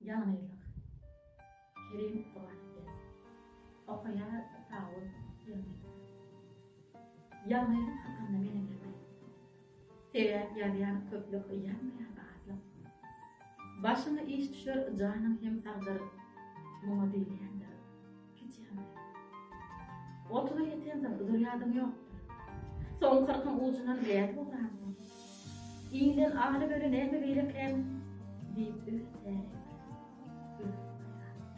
Ýalňyzlyk. Kerim Gurany bersin. Okaýar Dawud ýylgyrdy. Ýalňyzlyk hakynda men eger aýtdym. Sebäp ýazýan köplük ýazmaýan azlyk. Başyňa iş düşer janyň hem sagdyr. Muňa diýilýändir. Otuza ýetensoň dur ýadyň ýokdur. Soň kyrkyň ujundan gädip oturansoň, Iňden alyp öli näme beýle kän? diýip öz täretini özi aýardy.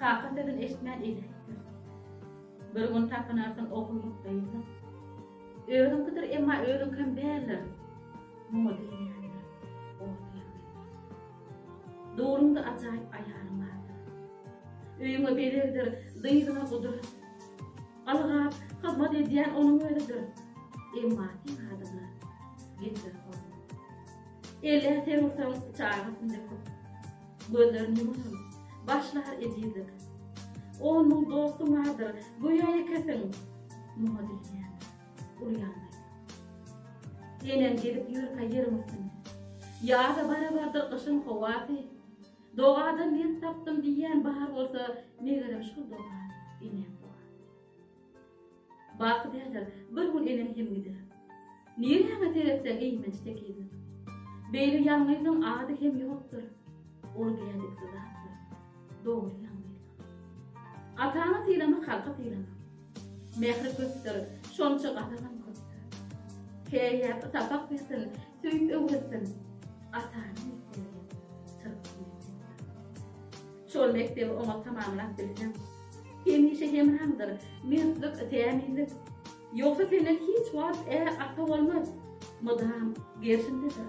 Kaka sözün eşitmän eli äýtdirdi. Bir gün tapynarsyň ogurlyk gyzlyk. Özüňkidir emma özüňkem däldir. Muňa diýýändir orta ýagdaýlar. Dogryňda ajaýyp aýalyň bardyr. Öýüňe bezegdir, dyzyňa gudur. Galgap, hyzmat edýän onuň özüdir. Emma seň adyňa getir hormat. Ele ser ursaň, çagasyn döküp. Gözlerini ýumaram, başlar ejizlik. On müň dostuň bardyr, göýä ýekesiň. Muňa dünýäň. Ulyanda. Senem gezip ýörkä ýeriň üstünde. Ýaza barabardyr gyşyň howasy. Dogadan lent tapdym diýýän bar bolsa, megerem şol doga eneň dogasy. Baky däldir, bir gün eneň hem gider. Nireňe seretseň eýmenç tekizlik. Beýle ýalňyzyň ady hem ýokdur. Ol geldik zatdyr. Dogry ýaňlaýsaň. Ataňy sylamak halky sylamak. Mähri köpdür, şonça gazabam köpdür. Keýäp sapak bersin, söýüp öwretsin. Atanyň mekdebi çyrpy mekdepdir. Şol mekdebi oňat tamamlap bilseň, hemişe hemraňdyr mertlik, kämillik. Ýogsa senden hiç wagt är, ata bolmaz. Mydam gerşindedir.